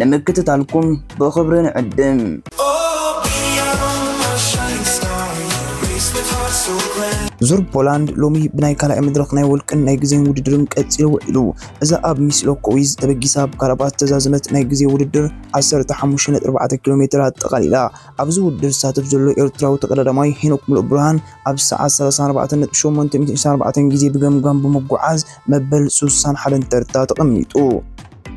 ንምክትታልኩም ብኽብሪ ንዕድም። ዙር ፖላንድ ሎሚ ብናይ ካልኣይ መድረኽ ናይ ውልቅን ናይ ግዜን ውድድርን ቀጺሉ ውዒሉ። እዛ ኣብ ሚስሎ ኮዊዝ ተበጊሳ ብካራባት ዝተዛዘመት ናይ ግዜ ውድድር 15.4 ኪሎ ሜትር ኣጠቓሊላ። ኣብዚ ውድድር ዝሳተፍ ዘሎ ኤርትራዊ ተቐዳዳማይ ሄኖክ ሙሉእብርሃን ኣብ ሰዓት 34.894 ግዜ ብገምጋም ብምጉዓዝ መበል 61 ተርታ ተቐሚጡ።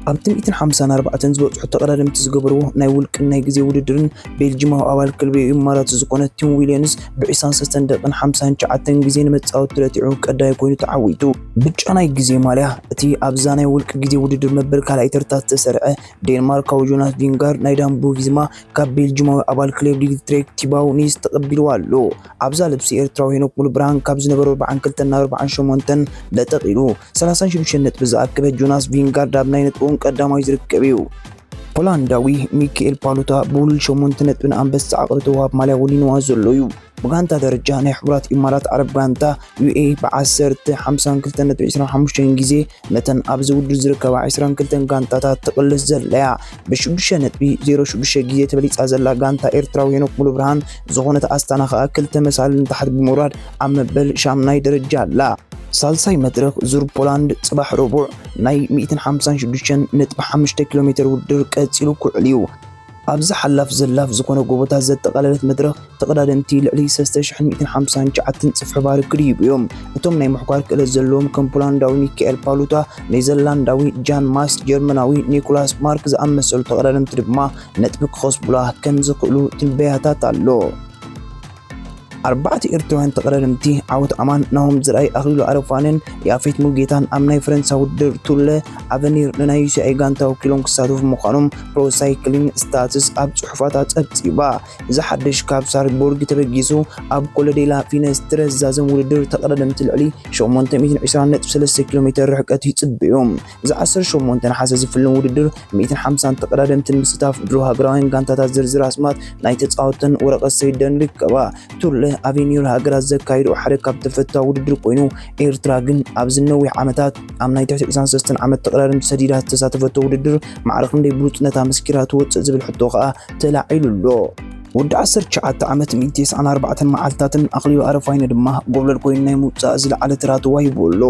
ኣብቲ ሚእትን ሓምሳን ኣርባዕተን ዝበጽሑ ተቐዳደምቲ ዝገበርዎ ናይ ውልቅን ናይ ግዜ ውድድርን ቤልጂማዊ ኣባል ክለብ ኢማራት ዝኾነ ቲም ዊልያንስ ብዒስራን ሰለስተን ደቂን ሓምሳን ትሽዓተን ግዜ ንመጻወቲ ረቲዑ ቀዳይ ኮይኑ ተዓዊቱ። ብጫ ናይ ግዜ ማልያ እቲ ኣብዛ ናይ ውልቂ ግዜ ውድድር መበል ካልኣይ ተርታ ዝተሰርዐ ዴንማርካዊ ጆናስ ቪንጋር ናይ ዳምቦ ቪዝማ ካብ ቤልጂማዊ ኣባል ክለብ ሊግትሬክ ቲባው ኒስ ተቐቢልዎ ኣሎ። ኣብዛ ልብሲ ኤርትራዊ ሄኖክ ሙሉብርሃን ካብ ዝነበሮ ኣርብዓን ክልተን ናብ ኣርብዓን ሸሞንተን ለጠቕ ኢሉ ሰላሳን ሽዱሽተን ነጥቢ ዝኣከበ ጆናስ ቪንጋርድ ኣብ ናይ ነጥቦም ቀዳማይ ዝርከብ እዩ። ሆላንዳዊ ሚካኤል ፓሉታ ብውሉል ሸሞንተ ነጥቢ ንኣንበሳ ዓቕሪ ተውሃብ ማልያ ወኒንዋ ዘሎ እዩ። ብጋንታ ደረጃ ናይ ሕቡራት ኢማራት ዓረብ ጋንታ ዩኤኢ ብዓሰርተ ሓምሳን ክልተን ነጥቢ ዕስራን ሓሙሽተን ግዜ ነተን ኣብዚ ውድድር ዝርከባ ዕስራን ክልተን ጋንታታት ትቕልስ ዘላ እያ። ብሽዱሽተ ነጥቢ ዜሮ ሽዱሽተ ግዜ ተበሊጻ ዘላ ጋንታ ኤርትራዊ ሄኖክ ሙሉብርሃን ዝኾነት ኣስታና ከኣ ክልተ መሳልል ንታሕቲ ብምውራድ ኣብ መበል ሻምናይ ደረጃ ኣላ። ሳልሳይ መድረኽ ዙር ፖላንድ ጽባሕ ረቡዕ ናይ ሚእትን ሓምሳን ሽዱሽተን ነጥቢ ሓሙሽተ ኪሎ ሜተር ውድድር ቀጺሉ ክውዕል እዩ። ኣብዚ ሓላፍ ዘላፍ ዝኾነ ጎቦታት ዘጠቓለለት መድረኽ ተቐዳደምቲ ልዕሊ ሰለስተ ሽሕን ሚእትን ሓምሳን ትሽዓተን ጽፍሒ ባር ክድይቡ እዮም። እቶም ናይ ምሕኳር ክእለት ዘለዎም ከም ፖላንዳዊ ሚካኤል ፓሉታ፣ ኔዘርላንዳዊ ጃን ማስ፣ ጀርመናዊ ኒኮላስ ማርክ ዝኣመሰሉ ተቐዳደምቲ ድማ ነጥቢ ክኸስቡላ ከም ዝኽእሉ ትንበያታት ኣሎ። ኣርባዕተ ኤርትራውያን ተቐዳደምቲ ዓወት ኣማን፣ ናሆም ዘርኣይ፣ ኣኽሊሉ ኣረፋንን ያፌት ሙሉጌታን ኣብ ናይ ፈረንሳ ውድድር ቱር ለ ኣቨኒር ንናይ ዩሲኣይ ጋንታ ወኪሎም ክሳተፉ ምዃኖም ፕሮ ሳይክሊን ስታትስ ኣብ ጽሑፋታ ጸብጺባ። እዚ ሓድሽ ካብ ሳልዝቡርግ ተበጊሱ ኣብ ኮለ ዴላ ፊነስ ትረስ ዛዘም ውድድር ተቐዳደምቲ ልዕሊ 820.3 ኪሎ ሜተር ርሕቀት ይጽበዩ። እዚ ዓሰርተ ሸሞንተ ነሓሰ ዝፍልም ውድድር ሚእትን ሓምሳን ተቐዳደምትን ምስታፍ ድሮ ሃገራውያን ጋንታታት ዝርዝር ኣስማት ናይ ተጻወተን ወረቐት ሰይደን ርከባ። ቱር ለ ኣቬኒር ሃገራት ዘካይድኦ ሓደ ካብ ተፈታዊ ውድድር ኮይኑ ኤርትራ ግን ኣብዚ ነዊሕ ዓመታት ኣብ ናይ ትሕቲ 23 ዓመት ተቐዳደምቲ ሰዲዳ ዝተሳተፈቶ ውድድር ማዕረ ክንደይ ብሉጽነታ መስኪራ ትወጽእ ዝብል ሕቶ ከኣ ተላዒሉ ኣሎ። ወዲ 19 ዓመት 194 መዓልትታትን ኣኽሊሉ ኣረፋይነ ድማ ጎብለል ኮይኑ ናይ ምውጻእ ዝለዓለ ተራ ተዋሂብዎ ኣሎ።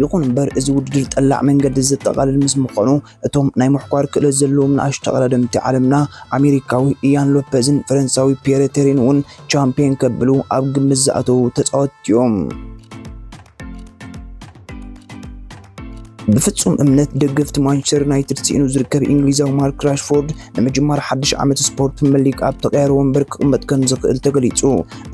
ይኹን እምበር እዚ ውድድር ጠላዕ መንገዲ ዘጠቓልል ምስ ምዃኑ እቶም ናይ ምሕኳር ክእለት ዘለዎም ንኣሽ ተቐዳደምቲ ዓለምና ኣሜሪካዊ ኢያን ሎፐዝን ፈረንሳዊ ፒየረ ቴሪን እውን ቻምፒየን ከብሉ ኣብ ግምት ዝኣተዉ ተፃወትቲ እዮም። ብፍጹም እምነት ደገፍቲ ማንቸስተር ዩናይትድ ስኢኑ ዝርከብ እንግሊዛዊ ማርክ ራሽፎርድ ንምጅማር ሓድሽ ዓመት ስፖርት ፕሪምየር ሊግ ኣብ ተቐያሪ ወንበር ክቕመጥ ከም ዝኽእል ተገሊጹ።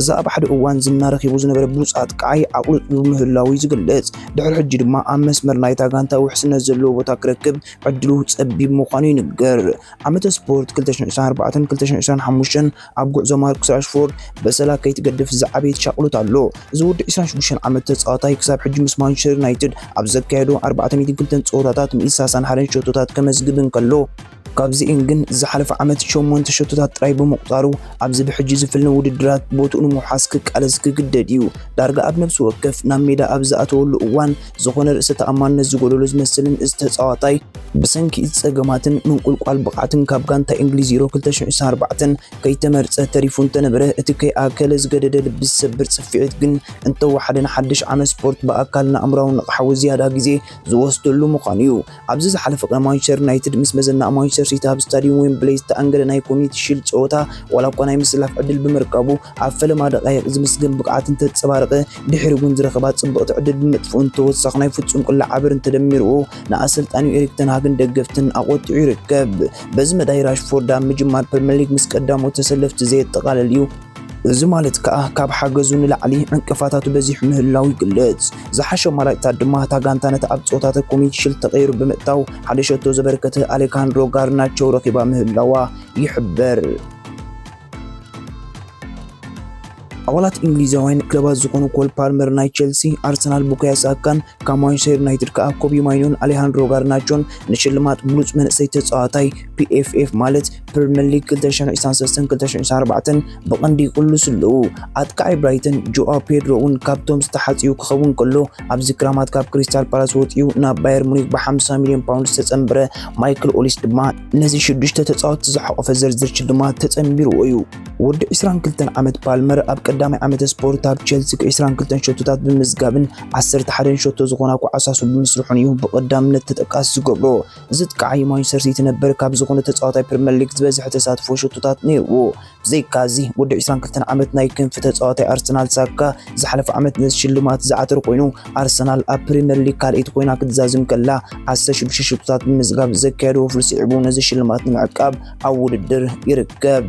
እዚ ኣብ ሓደ እዋን ዝና ረኺቡ ዝነበረ ብሉጽ ኣጥቃዓይ ኣቑልጥዩ ምህላዉ'ዩ ዝግለጽ። ድሕሪ ሕጂ ድማ ኣብ መስመር ናይታ ጋንታ ውሕስነት ዘለዎ ቦታ ክረክብ ዕድሉ ጸቢብ ምዃኑ ይንገር። ዓመተ ስፖርት 2024ን 2025ን ኣብ ጉዕዞ ማርኩስ ራሽፎርድ በሰላ ከይትገድፍ ዝዓበየ ሻቕሎት ኣሎ። እዚ ወዲ 26 ዓመት ተጻዋታይ ክሳብ ሕጂ ምስ ማንቸስተር ዩናይትድ ኣብ ዘካየዶ 402 ጸወታታት ን60 ሓደን ሸቶታት ከመዝግብ እንከሎ፣ ካብዚእን ግን ዝሓለፈ ዓመት ሸሞንተ ሸቶታት ጥራይ ብምቑፃሩ ኣብዚ ብሕጂ ዝፍልነ ውድድራት ቦትኡ ንምውሓስ ክቃለስ ክግደድ እዩ። ዳርጋ ኣብ ነብሲ ወከፍ ናብ ሜዳ ኣብ ዝኣተወሉ እዋን ዝኾነ ርእሰ ተኣማንነት ዝጎደሎ ዝመስልን እዚ ተፃዋታይ ብሰንኪ እዚ ፀገማትን ምንቁልቋል ብቕዓትን ካብ ጋንታ ኢንግሊዝ ዩሮ ክልተ ሽሕ ዒስራን ኣርባዕተን ከይተመርፀ ተሪፉ እንተነበረ እቲ ከይኣከለ ዝገደደ ልቢ ዝሰብር ፅፊዒት ግን እንተወሓደ ንሓድሽ ዓመት ስፖርት ብኣካልን ኣእምራውን ንቕሓዊ ዝያዳ ግዜ ዝወስደሉ ምዃኑ እዩ። ኣብዚ ዝሓለፈ ቅነ ማንቸስተር ዩናይትድ ምስ መዘናኡ ማንቸስተር ሲቲ ኣብ ስታድዩም ዌምብለይ ዝተኣንገደ ናይ ኮሚኒቲ ሺልድ ጸወታ ዋላ እኳ ናይ ምስላፍ ዕድል ብምርካቡ ኣብ ፈለማ ደቃይቕ ዝምስገን ብቕዓት እንተጸባረቐ ድሕሪ እውን ዝረኸባ ጽብቕቲ ዕድል ብምጥፍኡን ተወሳኺ ናይ ፍጹም ቅላዕ ዓበርን ተደሚርዎ ንኣሰልጣኒኡ ኤሪክ ተንሃግን ደገፍትን ኣቖጢዑ ይርከብ። በዚ መዳይ ራሽፎርድ ኣብ ምጅማር ፕሪምየር ሊግ ምስ ቀዳሞት ተሰለፍቲ ዘየጠቓልል እዩ። እዚ ማለት ከኣ ካብ ሓገዙ ንላዕሊ ዕንቅፋታቱ በዚሑ ምህላዉ ይግለጽ። ዝሓሸ ኣማራጭታት ድማ እታ ጋንታ ነቲ ኣብ ጸወታተ ኮሚዩኒቲ ሽልድ ተቐይሩ ብምእታው ሓደ ሸቶ ዘበርከተ ኣሌካንድሮ ጋርናቸው ረኺባ ምህላዋ ይሕበር። ኣባላት እንግሊዛውያን ክለባት ዝኾኑ ኮል ፓልመር ናይ ቸልሲ፣ ኣርሰናል ቡካዮ ሳካን ካብ ማንቸስተር ዩናይትድ ከዓ ኮቢ ማይኖን ኣሌሃንድሮ ጋርናቾን ንሽልማት ብሉፅ መንእሰይ ተፃዋታይ ፒኤፍኤፍ ማለት ፕሪምየር ሊግ 2023-2024 ብቐንዲ ይቕልሱ ኣለዉ። ኣጥቃዒ ብራይተን ጆኣ ፔድሮ እውን ካብቶም ዝተሓፅዩ ክኸውን ከሎ ኣብዚ ክራማት ካብ ክሪስታል ፓላስ ወፂኡ ናብ ባየር ሙኒክ ብ50 ሚሊዮን ፓውንድ ዝተፀምበረ ማይክል ኦሊስ ድማ ነዚ ሽዱሽተ ተፃወትቲ ዝሓቖፈ ዝርዝር ሽልማት ተፀምቢርዎ እዩ። ወዲ 22 ዓመት ፓልመር ኣብ ቀዳማይ ዓመተ ስፖርት ኣብ ቸልሲ 22 ሸቶታት ብምዝጋብን 11 ሸቶ ዝኾና ኳዕሳሱ ብምስርሑን እዩ ብቐዳምነት ተጠቃሲ ዝገብሮ። እዚ ጥቃዓይ ማንቸስተር ሲቲ ነበር ካብ ዝኾነ ተጻዋታይ ፕሪምየር ሊግ ዝበዝሐ ተሳትፎ ሸቶታት ነይርዎ። ብዘይካ እዚ ወዲ 22 ዓመት ናይ ክንፊ ተጻዋታይ ኣርሰናል ሳካ ዝሓለፈ ዓመት ነዚ ሽልማት ዝዓተረ ኮይኑ ኣርሰናል ኣብ ፕሪምየር ሊግ ካልኣይቲ ኮይና ክትዛዝም ከላ 16 ሸቶታት ብምዝጋብ ዘካየዶ ወፍሪ ስዒቡ ነዚ ሽልማት ንምዕቃብ ኣብ ውድድር ይርከብ።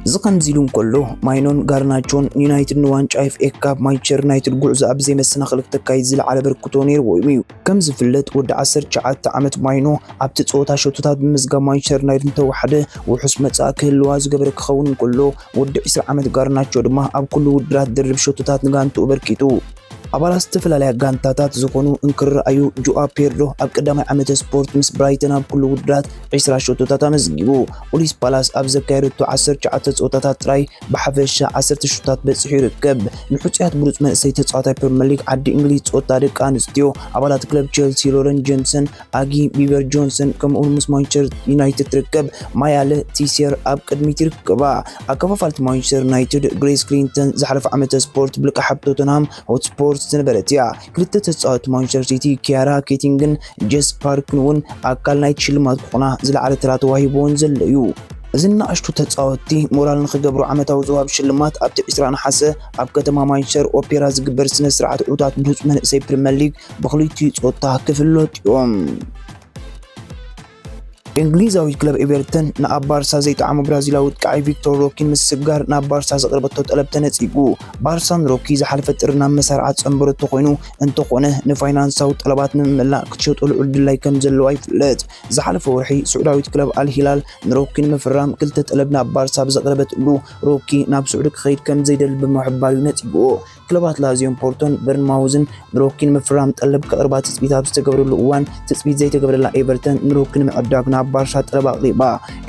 እዚ ከምዚ ኢሉ እንከሎ ማይኖን ጋርናቾን ንዩናይትድ ንዋንጫ ኤፍኤ ካፕ ማንቸስተር ዩናይትድ ጉዕዞ ኣብ ዘይመሰናኽል ክተካይድ ዝለዓለ በርክቶ ነይርዎ እዩ። ከም ዝፍለጥ ወዲ 19 ዓመት ማይኖ ኣብቲ ጸወታ ሸቶታት ብምዝጋብ ማንቸስተር ዩናይትድ እንተወሓደ ውሑስ መጻኢ ክህልዋ ዝገበረ ክኸውን እንከሎ ወዲ 20 ዓመት ጋርናቾ ድማ ኣብ ኩሉ ውድድራት ድርብ ሸቶታት ንጋንትኡ ኣበርኪቱ። ኣባላት ዝተፈላለያ ጋንታታት ዝኾኑ እንክርኣዩ ጆኣ ፔድሮ ኣብ ቀዳማይ ዓመተ ስፖርት ምስ ብራይተን ኣብ ኩሉ ውድድራት 20 ሸቶታት ኣመዝጊቡ። ፖሊስ ፓላስ ኣብ ዘካየደቶ 19 ጸወታታት ጥራይ ብሓፈሻ 10 ሸቶታት በጺሑ ይርከብ። ንሕጹያት ብሉጽ መንእሰይ ተጻዋታይ ፕሪምየር ሊግ ዓዲ እንግሊዝ ጸወታ ደቂ ኣንስትዮ ኣባላት ክለብ ቼልሲ ሎረን ጀምሰን ኣጊ ቢበር ጆንሰን ከምኡውን ምስ ማንቸስተር ዩናይትድ ትርከብ ማያለ ቲሴር ኣብ ቅድሚት ይርከባ ኣከፋፋልቲ ማንቸስተር ዩናይትድ ግሬስ ክሊንተን ዝሓለፈ ዓመተ ስፖርት ብልቃሓብ ቶተንሃም ሆትስፖርት ዝነበረት እያ ክልተ ተፃወቲ ማንቸስተር ሲቲ ኪያራ ኬቲንግን ጀስ ፓርክን እውን ኣካል ናይቲ ሽልማት ክኾና ዝለዓለ ተራ ተዋሂቦን ዘሎ እዩ እዚ ንኣሽቱ ተፃወቲ ሞራል ንክገብሩ ዓመታዊ ዝዋሃብ ሽልማት ኣብቲ 20 ነሓሰ ኣብ ከተማ ማንቸስተር ኦፔራ ዝግበር ስነ ስርዓት ዕውታት ብሉፅ መንእሰይ ፕሪምየር ሊግ ብክልቲኡ ጾታ ክፍለጡ እዮም። እንግሊዛዊት ክለብ ኤቨርተን ንኣብ ባርሳ ዘይጠዓሞ ብራዚላዊ ወጥቃዒ ቪክቶር ሮኪ ምስግጋር ናብ ባርሳ ዘቕረበቶ ጠለብ ተነጺጉ። ባርሳ ንሮኪ ዝሓለፈ ጥሪ ናብ መሳርዓ ዝጸንበረቶ ኮይኑ እንተኾነ ንፋይናንሳዊ ጠለባት ንምምላእ ክትሸጦ ልዑል ድላይ ከም ዘለዋ ይፍለጥ። ዝሓለፈ ወርሒ ስዑዳዊት ክለብ ኣልሂላል ንሮኪ ንምፍራም ክልተ ጠለብ ናብ ባርሳ ብዘቕረበትሉ ሮኪ ናብ ስዑዲ ክኸይድ ከም ዘይደሊ ብምሕባር እዩ ነጺጉዎ። ክለባት ላዚዮን ፖርቶን በርንማውዝን ንሮኪ ንምፍራም ጠለብ ከቕርባ ትፅቢት ኣብ ዝተገብረሉ እዋን ትፅቢት ዘይተገብረላ ኤቨርተን ንሮኪ ንምዕዳግ ናብ ባርሳ ጠለብ ኣቕሪባ።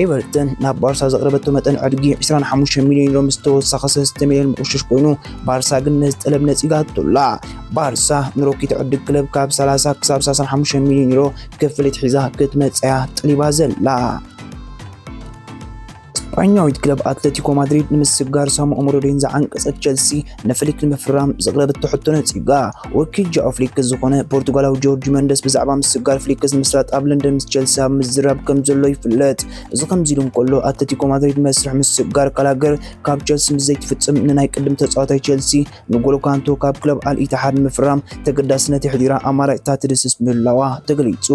ኤቨርተን ናብ ባርሳ ዘቕረበቶ መጠን ዕድጊ 25 ሚሊዮን ዩሮ ምስ ተወሳኺ 3 ሚሊዮን ምቑሽሽ ኮይኑ ባርሳ ግን ነዚ ጠለብ ነፂጋቶላ። ባርሳ ንሮኪ ትዕድግ ክለብ ካብ 30 ክሳብ 35 ሚሊዮን ዩሮ ክፍሊት ሒዛ ክትመፅያ ጠሊባ ዘላ። ስጳኛዊት ክለብ ኣትለቲኮ ማድሪድ ንምስግጋር ሳሙኦ ሞሮዴን ዝዓንቀጸት ቸልሲ ንፍሊክ ንምፍራም ዘቕረበቶ ሕቶ ነጺጋ። ወኪል ጃኦ ፍሊክ ዝኾነ ፖርቱጋላዊ ጆርጅ መንደስ ብዛዕባ ምስግጋር ፍሊክስ ንምስላጥ ኣብ ለንደን ምስ ቸልሲ ኣብ ምዝራብ ከም ዘሎ ይፍለጥ። እዚ ከምዚ ኢሉ እንከሎ ኣትለቲኮ ማድሪድ መስርሕ ምስግጋር ካላገር ካብ ቸልሲ ምስ ዘይትፍጽም ንናይ ቅድም ተጻዋታይ ቸልሲ ንጎሎ ካንቶ ካብ ክለብ ኣል ኢትሓድ ንምፍራም ተገዳስነት የሕዲራ ኣማራጭታት ትድስስ ምህላዋ ተገሊጹ።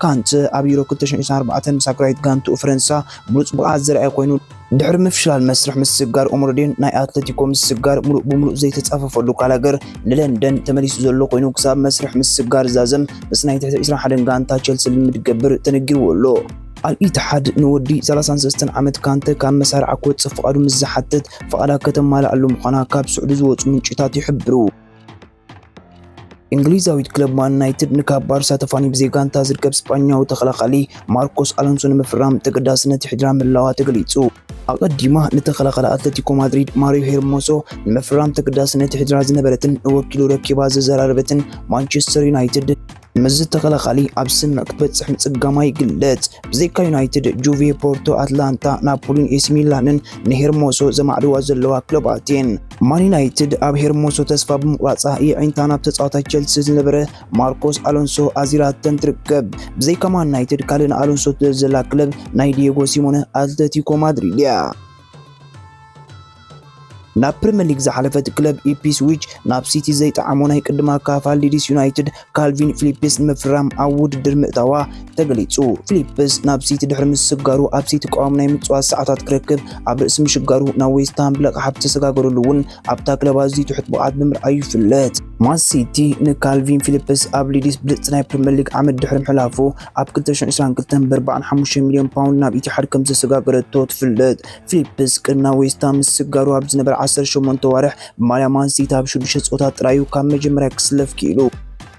ካንተ ኣብ ዩሮ ክልተ ሽሕን ዒስራን ኣርባዕተን ምስ ሃገራዊት ጋንትኡ ፈረንሳ ብሉጽ ብቕዓት ዘርኣየ ኮይኑ፣ ድሕሪ ምፍሽላል መስርሕ ምስግጋር ኦምሮዴን ናይ ኣትለቲኮ ምስግጋር ምሉእ ብምሉእ ዘይተጻፈፈሉ ጋላገር ንለንደን ተመሊሱ ዘሎ ኮይኑ ክሳብ መስርሕ ምስግጋር ዛዘም ምስ ናይ ትሕቲ ዒስራን ሓደን ጋንታ ቸልሲ ልምምድ ክገብር ተነጊርዎ ኣሎ። ኣል-ኢትሓድ ንወዲ ሰላሳን ሰለስተን ዓመት ካንተ ካብ መሳርዓ ክወጽእ ፍቓዱ ምስ ዝሓትት፣ ፍቓዳ ከተማልኣሉ ምዃና ካብ ስዑዲ ዝወጹ ምንጭታት ይሕብሩ። እንግሊዛዊት ክለብ ማን ዩናይትድ ንካብ ባርሳ ተፋኒ ብዘይ ጋንታ ዝርከብ ስጳኛዊ ተኸላኻሊ ማርኮስ ኣሎንሶ ንምፍራም ተገዳስነት ይሕድራ ምህላዋ ተገሊጹ። ኣቐዲማ ንተኸላኻሊ ኣትለቲኮ ማድሪድ ማሪዮ ሄርሞሶ ንምፍራም ተገዳስነት ይሕድራ ዝነበረትን ንወኪሉ ረኪባ ዘዘራረበትን ማንቸስተር ዩናይትድ ምስዚ ተኸላኻሊ ኣብ ስምዕ ክትበጽሕ ምጽጋማ ይግለጽ። ብዘይካ ዩናይትድ፣ ጁቬ፣ ፖርቶ፣ ኣትላንታ፣ ናፖሊን ኤሲ ሚላንን ንሄርሞሶ ዘማዕድዋ ዘለዋ ክለባት እየን። ማን ዩናይትድ ኣብ ሄርሞሶ ተስፋ ብምቑራጻ የዒንታ ናብ ተጻዋታይ ቸልሲ ዝነበረ ማርኮስ ኣሎንሶ ኣዚራተን ትርከብ። ብዘይካ ማን ዩናይትድ ካልእ ንኣሎንሶ ትደሊ ዘላ ክለብ ናይ ዲየጎ ሲሞነ ኣትለቲኮ ማድሪድ እያ። ናብ ፕሪምየር ሊግ ዝሓለፈት ክለብ ኢፕስዊች ናብ ሲቲ ዘይጠዓሞ ናይ ቅድማ ካፋል ሊድስ ዩናይትድ ካልቪን ፊሊፕስ ንምፍራም ኣብ ውድድር ምእታዋ ተገሊጹ። ፊሊፕስ ናብ ሲቲ ድሕሪ ምስስጋሩ ኣብ ሲቲ ቀዋሚ ናይ ምጽዋት ሰዓታት ክረክብ ኣብ ርእሲ ምሽጋሩ ናብ ዌስትሃም ብለቕሓ ብተሰጋገረሉ እውን ኣብታ ክለብ ኣዝዩ ትሑት ብቕዓት ብምርኣዩ ይፍለጥ። ማን ሲቲ ንካልቪን ፊሊፕስ ኣብ ሊድስ ብልጽቲ ናይ ፕሪምየር ሊግ ዓመት ድሕሪ ምሕላፉ ኣብ ክልተ ሽሕን ዕስራን ክልተን ብኣርባዓን ሓሙሽተን ሚልዮን ፓውንድ ናብ ኢቲሓድ ከም ዘሰጋገረቶ ትፍለጥ። ፊሊፕስ ቅድሚ ናብ ዌስትሃም ምስግጋሩ ኣብ ዝነበረ ዓሰርተ ሸሞንተ ኣዋርሕ ብማልያ ማን ሲቲ ኣብ ሽዱሽተ ጸወታት ጥራይ'ዩ ካብ መጀመርያ ክስለፍ ክኢሉ።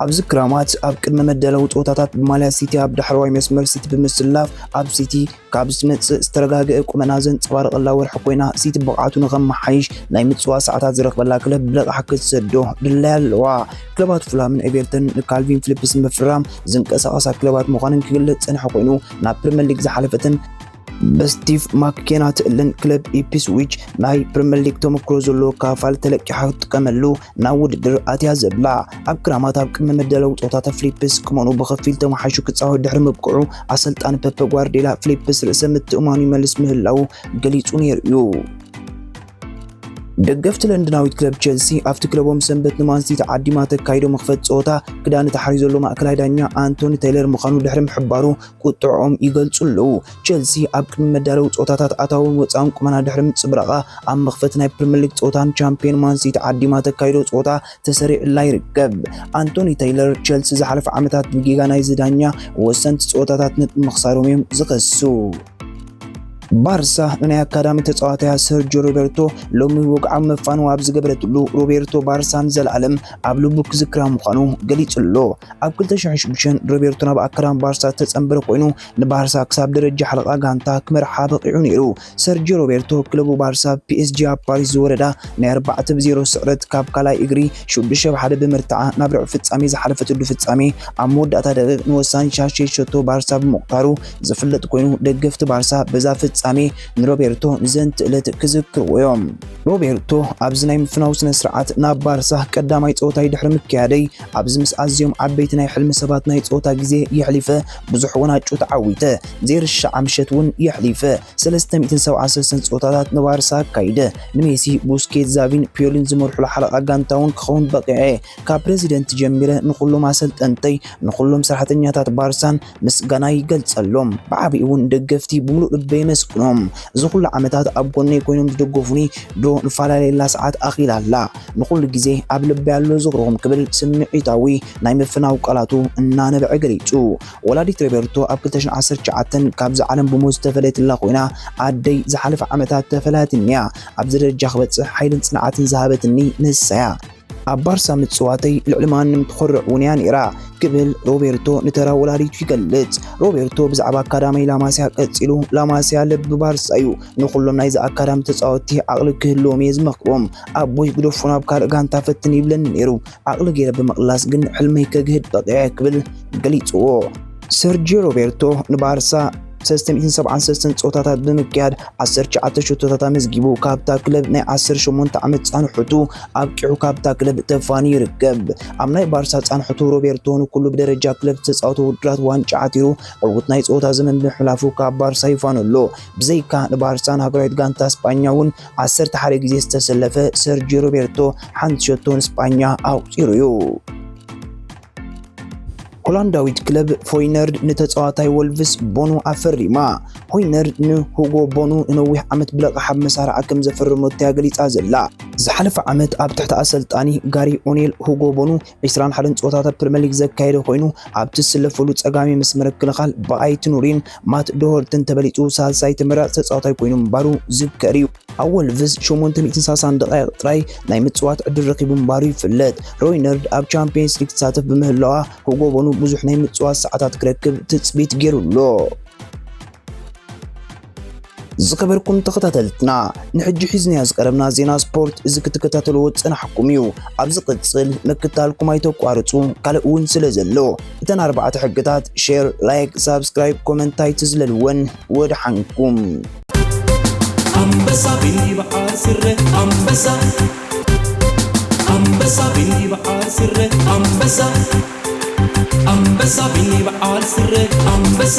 ኣብዚ ክራማት ኣብ ቅድመ መዳለዊ ጸወታታት ብማልያ ሲቲ ኣብ ዳሕረዋይ መስመር ሲቲ ብምስላፍ ኣብ ሲቲ ካብ ዝመጽእ ዝተረጋገኤ ቁመና ዘንጸባርቐላ ወርሒ ኮይና ሲቲ ብቕዓቱ ንኸመሓይሽ ናይ ምጽዋ ሰዓታት ዝረኽበላ ክለብ ብለቓሕ ክትሰዶ ድላይ ኣለዋ። ክለባት ፉልሃምን ኤቨርተንን ንካልቪን ፊሊፕስ ንምፍራም ዝንቀሳቐሳ ክለባት ምዃነን ክግለጽ ዝጸንሐ ኮይኑ ናብ ፕሪምየር ሊግ ዝሓለፈትን በስቲቭ ማክኬና ትእልን ክለብ ኢፕስዊች ናይ ፕሪምየር ሊግ ተመክሮ ዘለዎ ካፋል ተለቂሓ ክትጥቀመሉ ናብ ውድድር ኣትያ ዘብላ ኣብ ክራማት ኣብ ቅድመ መደለው ጾታ ተፍሊፕስ ክመኑ ብኸፊል ተመሓሹ ክጻወት ድሕሪ ምብቅዑ ኣሰልጣኒ ፐፐ ጓርዴላ ፍሊፕስ ርእሰ ምትእማኑ ይመልስ ምህላው ገሊጹ ነይሩ እዩ። ደገፍቲ ለንደናዊት ክለብ ቸልሲ ኣብቲ ክለቦም ሰንበት ንማንሲቲ ተዓዲማ ተካይዶ መኽፈት ፀወታ ክዳን ተሓሪዩ ዘሎ ማእከላይ ዳኛ ኣንቶኒ ቴይለር ምዃኑ ድሕሪ ምሕባሩ ቁጥዖኦም ይገልጹ ኣለዉ። ቸልሲ ኣብ ቅድሚ መዳለዊ ጸወታታት ኣታውን ወጻእን ቁመና ድሕሪ ምጽብራቓ፣ ኣብ መኽፈቲ ናይ ፕሪምየር ሊግ ጸወታ ንቻምፕዮን ማን ሲቲ ዓዲማ ተካይዶ ጸወታ ተሰሪዑላ ይርከብ። ኣንቶኒ ተይለር፣ ቸልሲ ዝሓለፈ ዓመታት ብጌጋ ናይዚ ዳኛ ወሰንቲ ጸወታታት ነጥቢ ምኽሳሮም'ዮም ዝኸሱ። ባርሳ ንናይ ኣካዳሚ ተጻዋታያ ሰርጆ ሮቤርቶ ሎሚ ወግዓዊ መፋንዎ ኣብ ዝገበረትሉ ሮቤርቶ ባርሳ ንዘለኣለም ኣብ ልቡ ክዝክራ ምዃኑ ገሊጹ ኣሎ። ኣብ 2006 ሮቤርቶ ናብ ኣካዳሚ ባርሳ ዝተጸንበረ ኮይኑ ንባርሳ ክሳብ ደረጃ ሓለቓ ጋንታ ክመርሓ በቒዑ ነይሩ። ሰርጂዮ ሮቤርቶ ክለቡ ባርሳ ብ ፒኤስጂ ኣብ ፓሪስ ዝወረዳ ናይ ኣርባዕተ ብ ዜሮ ስዕረት ካብ ካልኣይ እግሪ ሽዱሽተ ብ ሓደ ብምርትዓ ናብ ርብዒ ፍጻሜ ዝሓለፈትሉ ፍጻሜ ኣብ መወዳእታ ደቒቕ ንወሳኒ ሻሸይ ሸቶ ባርሳ ብምቑታሩ ዝፍለጥ ኮይኑ ደገፍቲ ባርሳ በዛ ፍጻሜ ንሮቤርቶ ንዘንቲ እለት ክዝክርዎ እዮም። ሮቤርቶ ኣብዚ ናይ ምፍናው ስነ ስርዓት ናብ ባርሳ ቀዳማይ ጸወታይ ድሕሪ ምክያደይ ኣብዚ ምስ ኣዝዮም ዓበይቲ ናይ ሕልሚ ሰባት ናይ ጸወታ ግዜ የሕሊፈ ብዙሕ ወናጩ ተዓዊተ፣ ዘይርሻዓ ምሸት እውን የሕሊፈ። 376 ጸወታታት ንባርሳ ኣካይደ፣ ንሜሲ፣ ቡስኬት፣ ዛቪን ፒዮሊን ዝመርሑላ ሓለቓ ጋንታ እውን ክኸውን በቒዐ። ካብ ፕረዚደንት ጀሚረ ንኹሎም ኣሰልጠንተይ፣ ንኹሎም ሰራሕተኛታት ባርሳን ምስጋናይ ይገልጸሎም። ብዓቢኡ እውን ንደገፍቲ ብምሉእ ልበይ የመስግኖም። እዚ ኩሉ ዓመታት ኣብ ጎነይ ኮይኖም ዝደገፉኒ፣ ድሮ ንፈላለየላ ሰዓት ኣኺላ ኣላ። ንኹሉ ግዜ ኣብ ልበይ ኣሎ ዝኽሮም ክብል ስምዒታዊ ናይ ምፍናው ቃላቱ እናነበዐ ገሊጹ። ወላዲት ሮቤርቶ ኣብ ክልተ ሽሕ ዓሰርተ ትሽዓተ ካብዛ ዓለም ብሞት ዝተፈለየትላ ኮይና፣ ኣደይ ዝሓለፈ ዓመታት ተፈላያትኒ'ያ። ኣብዚ ደረጃ ክበጽሕ ሓይልን ጽንዓትን ዝሃበትኒ ንሳ'ያ። ኣብ ባርሳ ምጽዋተይ ልዕሊ ማንም ትኾርዕ'ውን'ያ ነይራ ክብል ሮቤርቶ ንተራ ወላዲቱ ይገልጽ። ሮቤርቶ ብዛዕባ ኣካዳሚ ላማሲያ ቀጺሉ፣ ላማሲያ ልቢ ባርሳ'ዩ። ንኹሎም ናይዚ ኣካዳሚ ተጻወትቲ ዓቕሊ ክህልዎም'የ ዝመኽሮም። ኣቦይ ግደፎ ናብ ካልእ ጋንታ ፈትን ይብለኒ ነይሩ። ዓቕሊ ገይረ ብምቕላስ ግን ሕልመይ ከግህድ በቒዐ ክብል ገሊጽዎ። ሰርጂዮ ሮቤርቶ ንባርሳ 373 ፆታታት ብምክያድ 19 ሽቶታት ኣመዝጊቡ ካብታ ክለብ ናይ 18 ዓመት ፃንሑቱ ኣብቂዑ ካብታ ክለብ ተፋኒ ይርከብ። ኣብ ናይ ባርሳ ፃንሑቱ ሮቤርቶ ንኩሉ ብደረጃ ክለብ ዝተፃወተ ውድድራት ዋንጫ ዓቲሩ ዕውት ናይ ፀወታ ዘመን ብምሕላፉ ካብ ባርሳ ይፋኑ ኣሎ። ብዘይካ ንባርሳን ሃገራዊት ጋንታ ስጳኛ እውን ዓሰርተ ሓደ ግዜ ዝተሰለፈ ሰርጂዮ ሮቤርቶ ሓንቲ ሸቶ ንስጳኛ ኣቑጺሩ እዩ። ሆላንዳዊት ክለብ ፎይነርድ ንተጻዋታይ ወልቭስ ቦኑ ኣፈሪማ። ሆይነርድ ንሁጎ ቦኑ ንነዊሕ ዓመት ብለቓሕ ኣብ መሳርዓ ከም ዘፈረመቶ እያ ገሊጻ ዘላ። ዝሓለፈ ዓመት ኣብ ትሕቲ ኣሰልጣኒ ጋሪ ኦኔል ሁጎ ቦኑ ዕስራን ሓደን ፀወታታት ፕሪምየር ሊግ ዘካየደ ኮይኑ ኣብ ትስለፈሉ ፀጋሚ መስመር ክልኻል ብኣይቲ ኑሪን ማት ዶሆርትን ተበሊፁ ሳልሳይ ተመራፂ ተፃዋታይ ኮይኑ ምንባሩ ዝከር እዩ። ኣብ ወልቭስ 860 ደቃይቕ ጥራይ ናይ ምፅዋት ዕድል ረኪቡ ምንባሩ ይፍለጥ። ሮይነርድ ኣብ ቻምፒየንስ ሊግ ትሳተፍ ብምህላዋ ሁጎ ቦኑ ብዙሕ ናይ ምፅዋት ሰዓታት ክረክብ ትፅቢት ገይሩ ኣሎ። ዝከበርኩም ተኸታተልትና ንሕጂ ሒዝናዮ ዝቀረብና ዜና ስፖርት እዚ ክትከታተልዎ ዝጸናሕኩም እዩ። ኣብ ዝቕጽል ምክታልኩም ኣይተቋርጹ፣ ካልእ እውን ስለ ዘሎ እተን ኣርባዕተ ሕግታት ሼር፣ ላይክ፣ ሳብስክራይብ፣ ኮመንት ኣይትዝለልወን። ወድሓንኩም ኣንበሳ ቢበዓል ስረ ኣንበሳ ኣንበሳ ቢበዓል ስረ ኣንበሳ ኣንበሳ ቢበዓል ስረ ኣንበሳ